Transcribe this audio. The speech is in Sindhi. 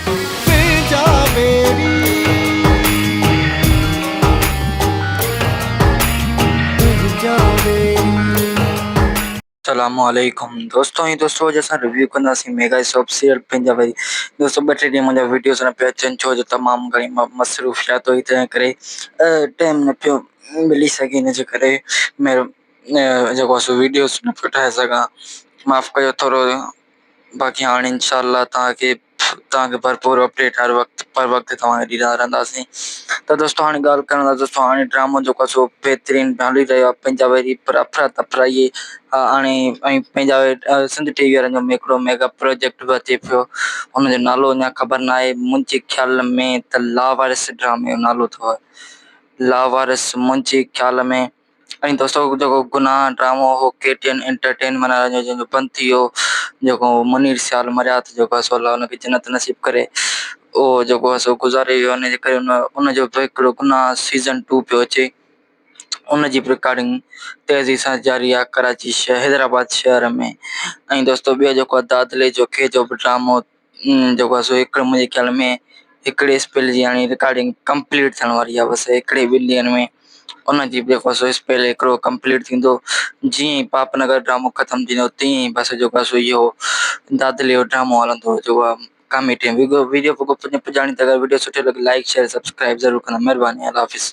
تنهنجا ويري تنهنجا ويري. السلام عليڪم دوستو ۽ دوستو اڄ اسان ريويو ڪنداسين ميگا شاپ سيئر پنهنجا ويري دوستو ٻه ٽي ڏينهن منهنجا ويڊيوز نه پيا اچن ڇو جو تمام گهڻي مصروفيات هئي تنهن ڪري ٽائم نه پيو ملي سگهي ان جي ڪري مهر جيڪو سو ويڊيوز نه پيو ٺاهي سگهان معاف ڪيو ٿورو باقي هاڻ انشاء الله توهان کي توهان کي ڀرپور اپڊيٽ هر وقت پر وقت توهان کي ڏيندا رهنداسين ته دوستو هاڻي ڳالهه ڪرڻ لاء دوستو هاڻي ڊرامو جيڪو سو بهترين هلي رهيو آهي پنهنجا ويري پر افرا تفرائي هاڻي ۽ پنهنجا سنڌ ٽي وي وارن جو هڪڙو ميگا پروجيڪٽ به اچي پيو ان جو نالو اڃا خبر نه آهي منهنجي خيال ۾ ته لاوارث ڊرامي جو نالو اٿو لاوارث منهنجي خيال ۾ ۽ دوستو جيڪو گناھ ڊرامو ھو ڪي ٽي اين انٽرٽين معنيٰ جنھن جو بند ٿي ويو جيڪو منير سيال مريا تھ جيڪو سو الله ان کي جنت نصيب ڪري اھو جيڪو سو گذاري ويو ان جي ڪري ان جو بھ ھڪڙو گناھ سيزن ٽو پيو اچي ان جي بھ رڪارڊنگ تيزي سان جاري آھي ڪراچي شھر حيدرآباد شھر ۾ ۽ دوستو ٻيو جيڪو دادلي جو ڪي جو بھ ڊرامو جيڪو آهي سو هڪ منهنجي خيال ۾ هڪڙي اسپيل جي هاڻي رڪارڊنگ ڪمپليٽ ٿيڻ واري آهي بس هڪڙي ٻن ڏينهن ۾ ان جي به جيڪو سو اسپيل هڪڙو ڪمپليٽ ٿيندو جيئن ئي پاپ نگر ڊرامو ختم ٿيندو تيئن ئي بس جيڪو آهي سو اهو دادلي جو ڊرامو هلندو جيڪو آهي ڪاميٽي ويڊيو پڄاڻي ته اگر ويڊيو سٺي لڳي لائڪ شيئر سبسڪرائب ضرور ڪندا مهرباني الله حافظ